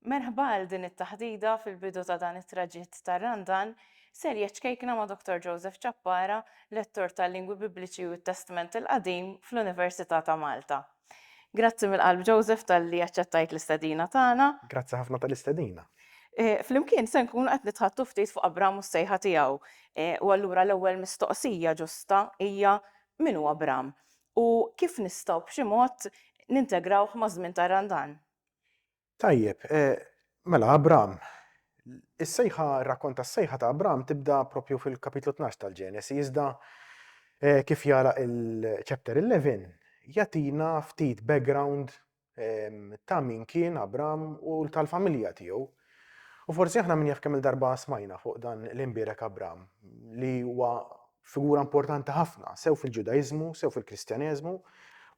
Merħba għal din it-taħdita fil-bidu ta' dan it-traġitt tar-Randan, serje ċkejkna ma' Dottor Joseph Ciappara, Lettur tal-Lingwi Bibliċi u t-Testment il-Qadim fl-Università ta' Malta. Grazzi mill-qalb Joseph talli aċċettajt l-istedina tagħna. Grazzi ħafna tal-istedina. Flimkien se nkunu qed nitħaddtu ftit fuq Abram u s-sejħa tiegħu. U allura l-ewwel mistoqsija ġusta hija min hu Abram? U kif nistgħu b'xi mod nintegrawh maż-żmien tar-Randan? Tajjeb, mela Abram, is-sejħa, ir-rakkont tas-sejħa ta' Abram tibda propju fil-kapitlu 12 tal-Ġenesi, iżda eh, kif jara il-chapter 11, jatina ftit background ehm, ta' min kien Abram u tal-familja tiegħu. U forsi aħna min jaf kemm il-darba smajna fuq dan l-imbirek Abram li huwa figura importanti ħafna, sew fil-Ġudaiżmu, sew fil-Kristjaneżmu,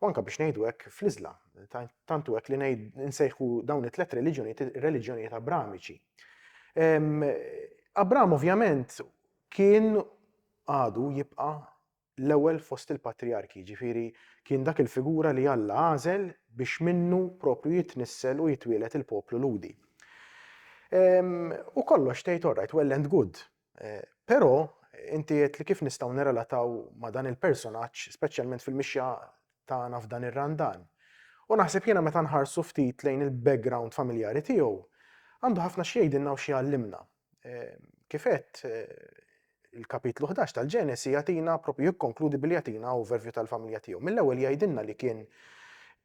u anke biex ngħidu hekk fl-Iżlam. Tantu hekk li ngħid nsejħu dawn it-tliet reliġjonijiet reliġjonijiet Abramiċi. Ehm, Abram ovvjament kien għadu jibqa' l-ewwel fost il-patriarki, ġifiri kien dak il-figura li Alla għażel biex minnu propju jitnissel u jitwielet il-poplu ludi. U kollox tgħid orrajt, well and good, Eh, però inti qed li kif nistgħu nirrelataw ma' dan il-personaġġ, speċjalment fil-mixja tagħna f'dan ir-randan. U naħseb jiena meta nħarsu ftit lejn il-background familjari tiegħu, għandu ħafna xi jgħidilna u xi jgħallimna. Eh, kif qed eh, il-kapitlu 11 tal-Ġenesi jatina propju jikkonkludi billi jatina overview tal-familja tiegħu. Mill-ewwel jgħidilna li kien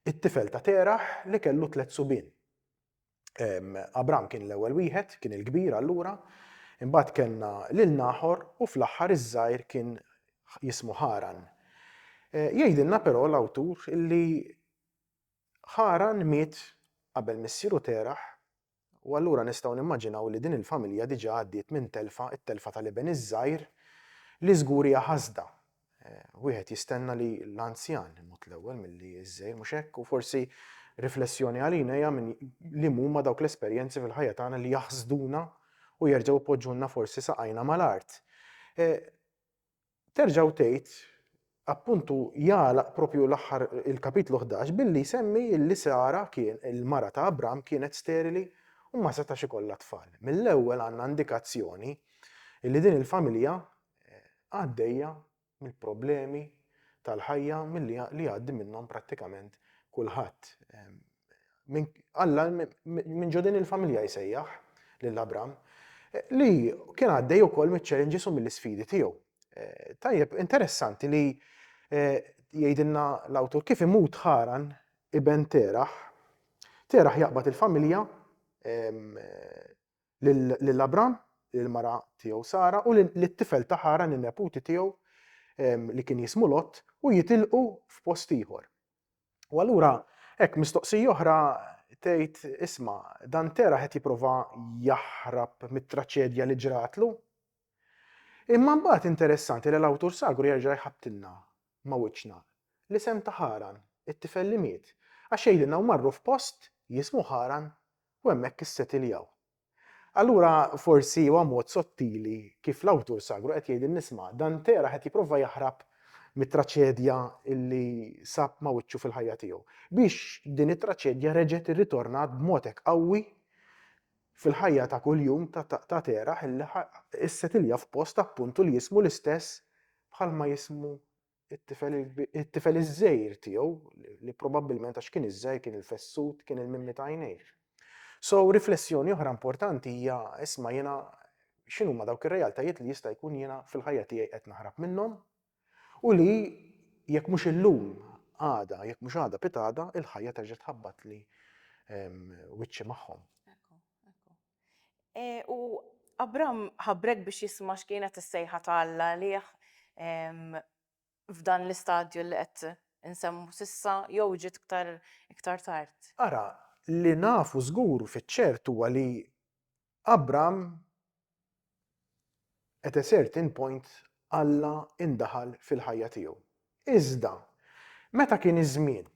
it-tifel ta' teraħ li kellu tliet subien. Abram kien l-ewwel wieħed, kien il-kbir allura, imbagħad kellna lil Naħor u fl-aħħar iż-żgħir kien jismu Ħaran. Eh, jgħidilna però l-awtur li Ħaran miet qabel missieru Teraħ u allura nistgħu nimmaġinaw li din il-familja diġà għaddiet minn telfa, it-telfa tal-iben iż-żgħir li żgur hija ħasda Wieħed jistenna li l-anzjan imut l-ewwel milli ż-żgħir, mhux hekk? U forsi riflessjoni għalina hija minn li huma dawk l-esperjenzi fil-ħajja tagħna li jaħsduna u jerġgħu jpoġġulna forsi saqajna mal-art. Terġgħu tgħid, appuntu jagħlaq propju l-aħħar il-kapitlu 11 billi jsemmi li Sara kien il-mara ta' Abram kienet sterili u ma setax ikollha tfal. Mill-ewwel għandna indikazzjoni li din il-familja għaddejja mill-problemi tal-ħajja milli li għaddi minnhom prattikament kulħadd. Alla minn ġodin il-familja jsejjaħ lil Abram li kien għaddej ukoll miċ-challenges u mill-isfidi tiegħu. Eh, tajjeb, interessanti li eh, jgħidilna l-awtur kif imut ħaran iben teraħ, teraħ jaqbad il-familja, eh, lil Abram, lill-mara tiegħu Sara u lit-tifel ta' Ħaran in-neputi tiegħu li kien jismu Lot u jitilqu f'post ieħor. U allura hekk mistoqsija oħra tgħid isma' dan Tera qed jipprova jaħrab mit-traċedja li ġratlu. Imma mbagħad interessanti li l-awtur sagru jerġa' jħabbtilna ma' wiċċna l-isem ta' Ħaran, it-tifel li miet, għax jgħidilna u marru f'post jismu Ħaran u hemmhekk issetiljaw. Allura forsi huwa mod sottili kif l-awtur sagru qed jgħidilna isma' Dante ra qed jipprova jaħrab mit-traċedja li sab ma' wiċċu fil-ħajja tiegħu, biex din it-traċedja reġgħet irritornat b'mod hekk qawwi fil-ħajja ta' kuljum ta' Terah illi issetilja f'post appuntu li jismu l-istess bħalma jismu it-tifel iż-żgħir tiegħu, li probabbilment għax kien iż-żgħir kien il-fessut, kien il-mimmi ta' għajnejh. So, riflessjoni oħra importanti hija isma' jiena x'inhu ma dawk ir-realtajiet li jista' jkun jiena fil-ħajja tiegħi qed naħrab minnhom u li jekk mhux illum għada, jekk mhux għada pitgħada, il-ħajja terġa' tħabbatli ehm, wiċċi magħhom. E, u Abram ħabrek biex jisma' x'kienet is-sejħa ta' Alla għalih f'dan l-istadju li qed insemmu s'issa jew ġiet iktar iktar tard? Ara, li nafu żgur fiċ-ċert huwa li Abram at a certain point Alla indaħal fil-ħajja tiegħu. Iżda, meta kien iż-żmien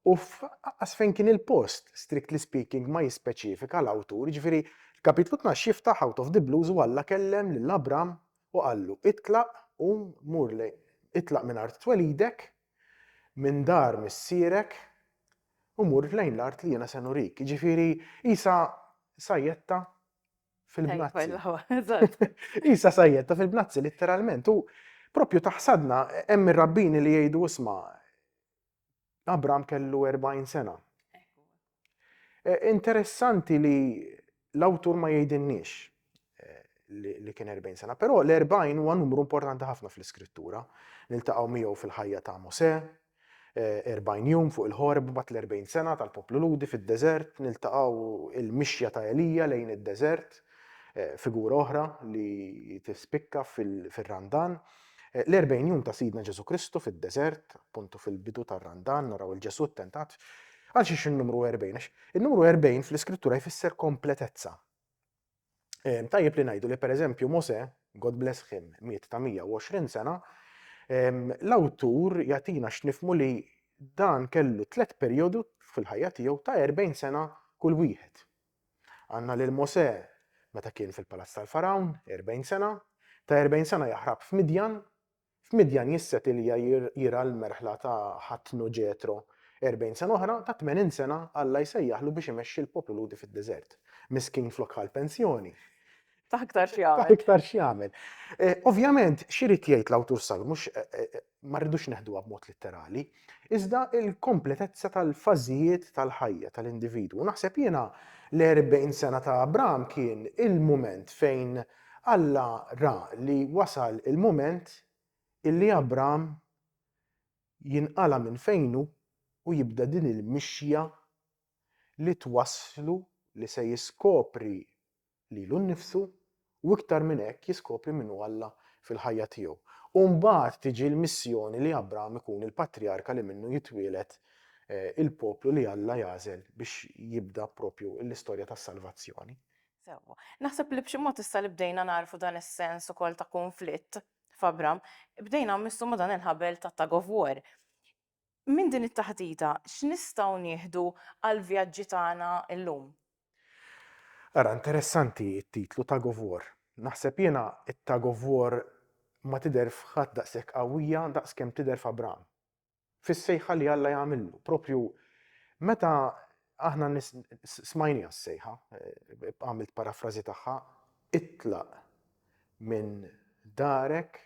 U f'qas fejn kien il-post, strictly speaking, ma jispeċifika l-awtur, jiġifieri l-Kapitlu Tnax jiftaħ out of the blues u Alla kellem lil Abram u qallu, Itlaq, qum, mur lejn, itlaq minn art twelidek, minn dar missierek, u mur lejn l-art li jiena se nurik. Jiġifieri qisha sajjetta fil-bnazzi. Qisha sajjetta fil-bnazzi, litteralment. U proprju ta' ħsadna hemm ir-rabbini li jgħidu isma' Abram kellu 40 sena. E, interessanti li l-awtur ma jgħidinniex e, li kien 40 sena, però l-40 huwa numru importanti ħafna fl-iskrittura. Niltaqgħu miegħu fil-ħajja ta' Mosè, 40 e, jum fuq il-ħorb bat l-40 sena tal-poplu ludi fid-deżert, niltaqgħu il-mixja ta' Elija lejn id-deżert, figura oħra li tispikka fil-randan. Fil L-erbgħin jum ta' Sidna Ġesù Kristu fid-deżert, appuntu fil-bidu tar-Randan, naraw lil Ġesù ttentat. Għalxiex in-numru erbgħin? Għax in-numru erbgħin fl-Iskrittura jfisser kompletezza. Ehm, tajjeb li ngħidu li pereżempju Mosè, God bless him, miet ta' 120 sena, ehm, l-awtur jagħtina x'nifmu li dan kellu tliet perjodu fil-ħajja tiegħu ta' 40 sena kull wieħed. Għandna lil Mosè meta kien fil-palazz tal-Fargħun, erbgħin sena, ta' erbgħin sena jaħrab f'Midjan, f'Midjan jisset Ilja jirgħa l-merħla ta' ħatnu Ġetro, erbgħin sena oħra, ta' tmenin sena Alla jsejjaħlu biex imexxi l-poplu Lhudi fid-deżert. Miskin flok ħa l-pensjoni. Ta' iktar x'jagħmel. Ta' iktar x'jagħmel. Eh, ovvjament, x'irid jgħid l-awtur sal, mhux eh, eh, ma rridux neħduha b'mod litterali, iżda il-kompletezza tal-fażijiet tal-ħajja tal-individwu. Naħseb jiena l-40 sena ta' Abram kien il-mument fejn Alla ra li wasal il-mument illi Abram jinqala minn fejnu u jibda din il-mixja li twasslu li se jiskopri lilu nnifsu u iktar minn hekk jiskopri min hu Alla fil-ħajja tiegħu. U mbagħad tiġi l-missjoni li Abram ikun il-patrijarka li minnu jitwieled il-poplu li Alla jagħżel biex jibda proprju l-istorja tas-salvazzjoni. Sewwa. Naħseb li b'xi mod issa li bdejna nagħrfu dan is-sens ukoll ta' kunflitt f'Abram, bdejna mmissu ma' dan il-ħabel ta' tug of war. Minn din it-taħdita, x'nistgħu nieħdu għall-vjaġġi tagħna llum? Ara, interessanti t-titlu, Tug of War. Naħseb jiena t-tug of war ma tidher f'ħadd daqshekk qawwija daqskemm tidher f'Abram. Fis-sejħa li Alla jagħmillu, proprju meta aħna smajniha s-sejħa, għamilt parafrażi tagħha, itlaq minn darek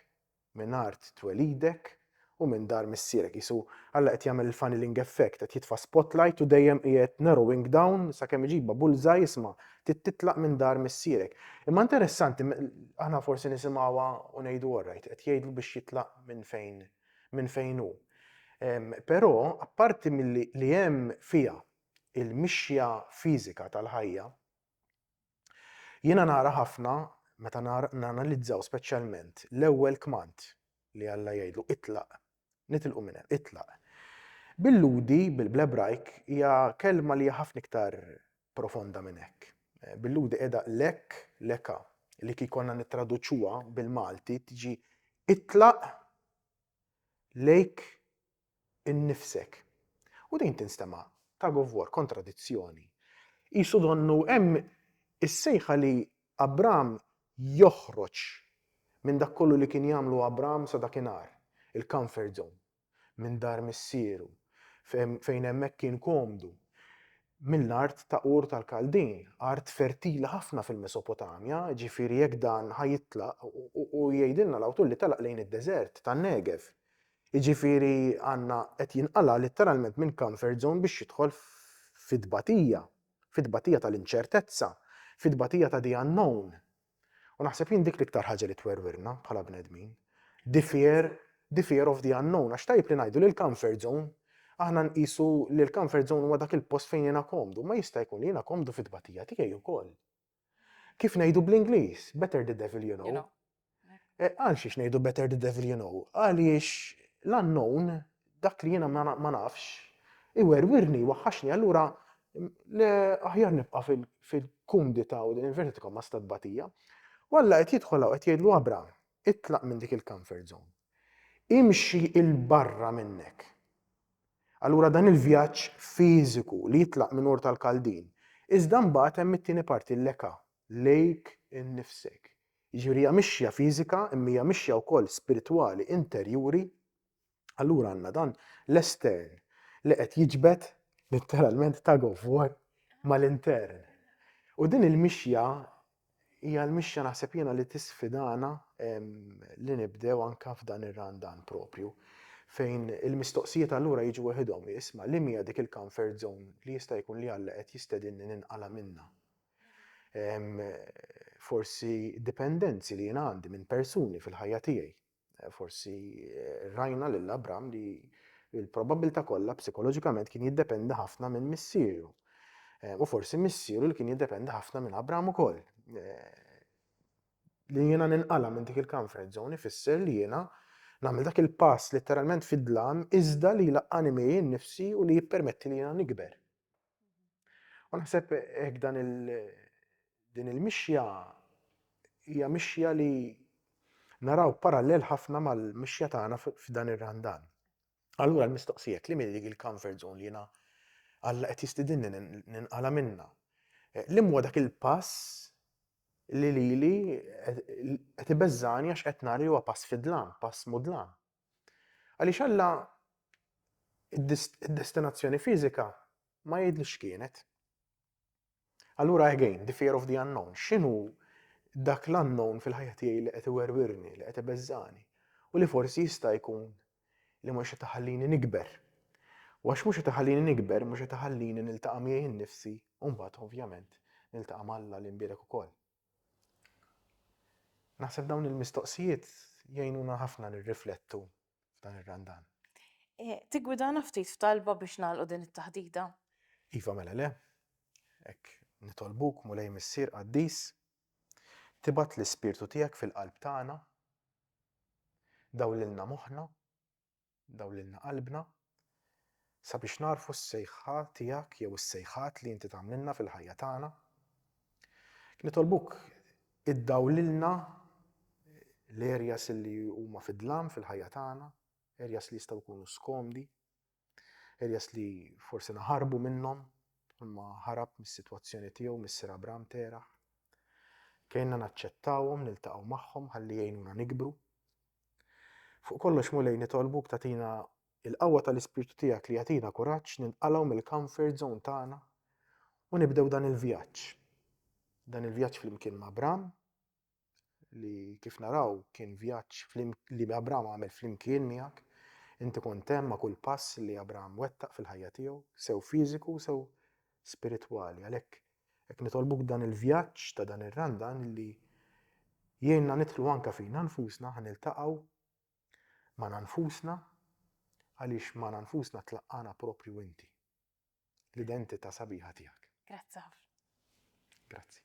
minn art twelidek u minn dar missierek. Qisu Alla qed jagħmel il-funneling effect, qed jitfa' spotlight u dejjem qiegħed narrowing down sakemm iġibha bullseye, isma', trid titlaq minn dar missierek. Imma interessanti, aħna forsi nisimgħuha u ngħidu alright, qed jgħidlu biex jitlaq minn fejn minn fejn hu. Però apparti milli li hemm fiha il-mixja fiżika tal-ħajja, Jiena nara ħafna meta nanalizzaw speċjalment l-ewwel kmand li Alla jgħidlu itlaq, nitilqu minn hemm, itlaq. Billudi bl-Ebrajk hija kelma li hija ħafna iktar profonda minn hekk. Billudi qiegħda lek, leka, li kif konna nittraduċuha bil-Malti tiġi itlaq lejk innifsek. U din tinstema' tug of war, kontradizzjoni. Qisu donnu hemm is-sejħa li Abram joħroġ minn dak kollu li kien jagħmlu Abram sa dakinhar, il-comfort zone, minn dar missieru, fejn hemmhekk kien komdu, mill-art ta' Ur tal-Kaldin, art fertili ħafna fil-Mesopotamja, ġifieri jekk dan ħa jitlaq, u jgħidilna l-awtur li telaq lejn id-deżert tan-Negev. Jiġifieri Anna qed jinqala' litteralment minn comfort zone biex jidħol fi tbatija, fi tbatija tal-inċertezza, fi tbatija ta' the unknown. U naħseb jien dik l-iktar ħaġa li twerwirna bħala bnedmin, the fear, the fear of the unknown, għax tajjeb li ngħidu li l-comfort zone, aħna nqisu li l-comfort zone huwa dak il-post fejn jiena komdu, imma jista' jkun li jiena komdu fit-tbatija tiegħi wkoll. Kif ngħidu bl-Ingliż, better the devil you know. Għal xiex ngħidu better the devil you know? Għaliex l-unknown, dak li jiena ma nafx, iwerwirni, waħħaxni, allura aħjar nibqa' fil-kumdità u din il-verti tkun ma stat batija. U Alla qed jidħol qed jgħidlu Abram, itlaq minn dik il-comfort zone. Imxi il-barra minnek. Allura dan il-vjaġġ fiżiku li jitlaq minn Ur tal-Kaldin. Iżda mbagħad hemm it-tieni parti l-leka, lejk innifsek. Jiġifieri hija mixja fiżika imma hija mixja wkoll spiritwali, interjuri. Allura għandna dan l-estern li qed jiġbed litteralment tug of war mal-intern. U din il-mixja Hija l-mixja naħseb jiena li tisfidana li nibdew anke f'dan ir-Randan proprju fejn il-mistoqsijiet allura jiġu weħidhom, isma' liema hija dik il-comfort zone li jista' jkun li Alla qed jistedinni ninqala' minnha? Forsi dipendenzi li jiena għandi minn persuni fil-ħajja tiegħi. Forsi rajna lil Abram li l-probabbiltà kollha psikoloġikament kien jiddependi ħafna minn missieru. U forsi missieru li kien jiddependi ħafna minn Abram ukoll. Li jiena ninqala minn dik il-comfort zone ifisser li jiena nagħmel dak il-pass letteralment fid-dlam iżda li jlaqqani miegħi nnifsi u li jippermetti li jiena nikber. U naħseb hekk dan il din il-mixja hija mixja li naraw parallel ħafna mal-mixja tagħna f'dan ir-randan. Allura l-mistoqsijek li milli il-comfort zone li jiena Alla qed jistidinni ninqala minna. Eh, li huwa dak il-pass li lili qed ibeżżani għax qed nara li huwa pass fidlan, pass mudlan. Għaliex Alla id-destinazzjoni fiżika ma jgħidlix x'kienet. Allura again, the fear of the unknown, x'inhu dak l-unknown fil-ħajja tiegħi li qed iwerwirni, li qed ibeżżani, u li forsi jista' jkun li mhux qed iħallini nikber. U għax mhux qed iħallini nikber, mhux qed iħallini niltaqa' miegħi nnifsi, u mbagħad ovvjament niltaqa' ma' Alla li nbierek ukoll. Naħseb dawn il-mistoqsijiet jgħinuna ħafna nirriflettu f'dan ir-Randan. E, Tigwidana ftit f'talba biex nagħlqu din it-taħdita. Iva mela le, hekk nitolbuk Mulej Missier Qaddis, tibgħat l-Ispirtu tiegħek fil-qalb tagħna, dawlilna moħħna, Dawlilna qalbna sabiex nagħrfu s-sejħa tiegħek jew is-sejħat li inti tagħmlilna fil-ħajja tagħna. Nitolbuk iddawlilna l-areas li huma fi dlam fil-ħajja tagħna, areas li jistgħu jkunu skomdi, areas li forsi naħarbu minnhom, imma ħarab mis-sitwazzjoni tiegħu mis-Sir Abram Teraħ. Kejna naċċettawhom, niltaqgħu magħhom ħalli jgħinuna nikbru, Fuq kollox Mulej nitolbuk tagħtina il-qawwa tal-Ispirtu tiegħek li jagħtina kuraġġ ninqalgħu mill-comfort zone tagħna u nibdew dan il-vjaġġ. Dan il-vjaġġ flimkien ma' Abram li kif naraw kien vjaġġ li Abram għamel flimkien miegħek Inti kont hemm ma' kull pass li Abraham wettaq fil-ħajja tiegħu, sew fiżiku sew spiritwali. Għalhekk Hekk nitolbuk dan il-vjaġġ ta' dan ir-Randan li jgħinna nidħlu anke fina nfusna ħa niltaqgħu magħna nfusna għaliex magħna nfusna tlaqqagħna proprju inti, l-identità sabiħa tiegħek. Grazzi ħafna. Grazzi.